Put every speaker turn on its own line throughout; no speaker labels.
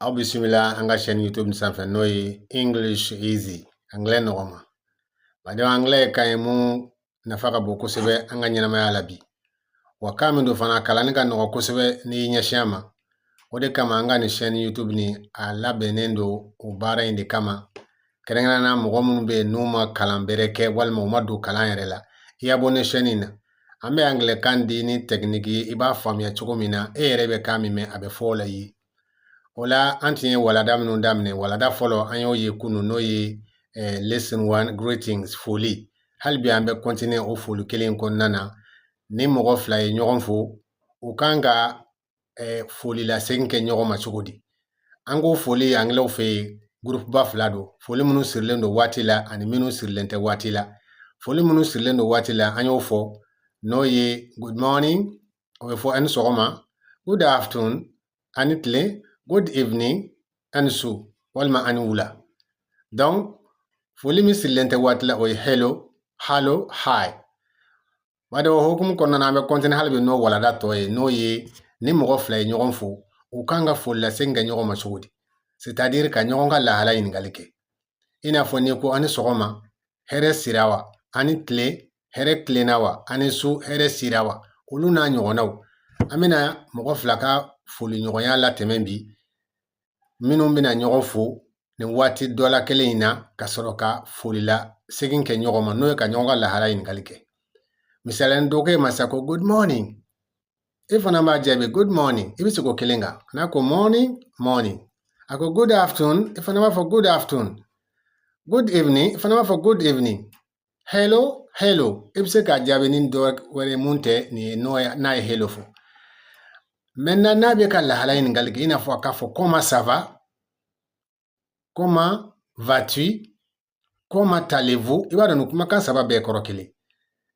aw bisimila an ka sɛni youtube nin sanfɛ n'o ye english easy anglais nɔgɔma badenw anglais ye kan ye mun nafa ka bon kosɛbɛ an ka ɲɛnamaya la bi wa kan min don fana a kalanni ka nɔgɔ kosɛbɛ n'i y'i ɲɛsin a ma o de kama an ka nin sɛni youtube nin a labɛnnen don o baara in de kama kɛrɛnkɛrɛnnenya na mɔgɔ minnu bɛ yen n'u ma kalan bɛrɛ kɛ walima u ma don kalan yɛrɛ la i ya bon nin sɛni na an bɛ angilɛkan di ni tɛkiniki ye i b'a faamuya cogo min na e yɛrɛ bɛ kan min mɛn a bɛ fɔ o la i ye o la an tun ye walanda minnu daminɛ walanda fɔlɔ an y'o ye kunu n'o ye eh, lesson one greetings foli hali bi an bɛ kɔntiniye o foli kelen kɔnɔna na ni mɔgɔ fila ye ɲɔgɔn fo u kan ka eh, foli lasegin kɛ ɲɔgɔn ma cogo di an ko foli angilɛw fɛ yen gurupuba fila don foli minnu sirilen don waati la ani minnu sirilen tɛ waati la foli minnu sirilen don waati la an y'o fɔ n'o ye good morning o bɛ fɔ ani sɔgɔma good afternoon ani tile good evening ani su walima ani wula donc foli min sirilen tɛ waati la o ye hello hallo hi Badenw o hukumu kɔnɔna na an bɛ kɔntiniye hali bi n'o walanda tɔ ye n'o ye ni mɔgɔ fila ye ɲɔgɔn fo u kan ka foli lasegin kɛ ɲɔgɔn ma cogo di sitadiri ka ɲɔgɔn ka lahala ɲininkali kɛ i n'a fɔ n'i ko ani sɔgɔma hɛrɛ sira wa ani tile hɛrɛ tilenna wa ani su hɛrɛ sira wa olu n'a ɲɔgɔnnaw an bɛna mɔgɔ fila ka foliɲɔgɔnya latɛmɛ bi minnu bɛna ɲɔgɔn fo ni waati dɔ la kelen in na ka sɔrɔ ka foli lasegin kɛ ɲɔgɔn ma n'o ye ka ɲɔgɔn ka lahala ɲininkali kɛ misali la ni dɔ ko e ma sa ko good morning e fana b'a jaabi good morning i bɛ segin o kelen kan n'a ko morning morning a ko good afternoon i fana b'a fɔ good afternoon good evening i fana b'a fɔ good evening hello hello i bɛ se k'a jaabi ni dɔ wɛrɛ mun tɛ nin ye n'o ye n'a ye hello fɔ maintenant n'a b'i ka lahala ɲininkali kɛ i n'a fɔ k'a fɔ comment ça va comment vas-tu comment allez-vous i b'a dɔn nin kumakan saba bɛɛ kɔrɔ kelen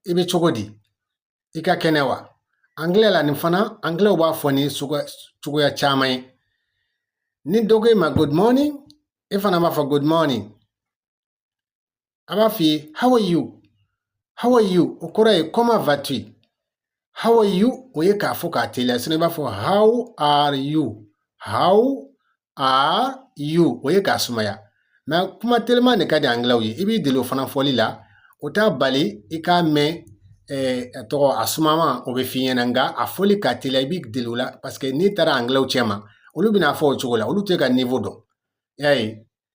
i bɛ cogo di i ka kɛnɛ wa angilɛ la nin fana angilɛw b'a fɔ ni cogoya caman ye ni dɔ ko e ma good morning e fana b'a fɔ good morning a b'a f'i ye how are you how are you o kɔrɔ ye comment vas-tu how are you o ye k'a fɔ k'a teliya sinɔn i b'a fɔ how are you how are you o ye k'a sumaya mɛ kuma teliman de ka di angilɛw ye i b'i deli o fana fɔli la o t'a bali i k'a mɛn eh, a tɔgɔ a sumaman o bɛ f'i ɲɛna nka a fɔli ka teliya i b'i deli o la paseke n'i taara angilɛw cɛma olu bɛna a fɔ o cogo la olu t'i ka nivo dɔn y'a ye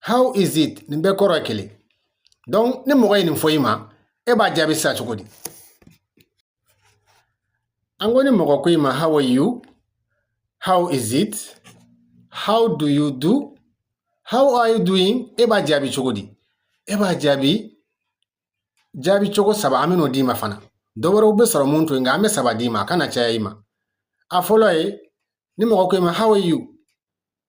how is it nin bɛɛ kɔrɔ ye kelen donc ni mɔgɔ ye nin fɔ i ma e b'a jaabi sisan cogo di an ko ni mɔgɔ ko i ma how are you how is it how do you do how are you doing e b'a jaabi cogo di e b'a jaabi jaabi cogo saba an bɛn'o d'i ma fana dɔ wɛrɛw bɛ sɔrɔ mun to yen nka an bɛ saba d'i ma a kana caya i ma a fɔlɔ ye ni mɔgɔ ko i ma how are you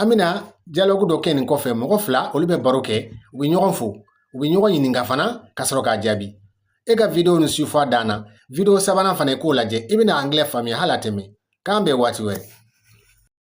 an bɛna dialogue dɔ kɛ nin kɔfɛ mɔgɔ fila olu bɛ baro kɛ u bɛ ɲɔgɔn fo u bɛ ɲɔgɔn ɲininka fana ka sɔrɔ k'a jaabi i ka video nin suivre fo a dan na video sabanan fana i k'o lajɛ i bɛna angilɛ faamuya hali a tɛ mɛɛn k'an bɛn waati wɛrɛ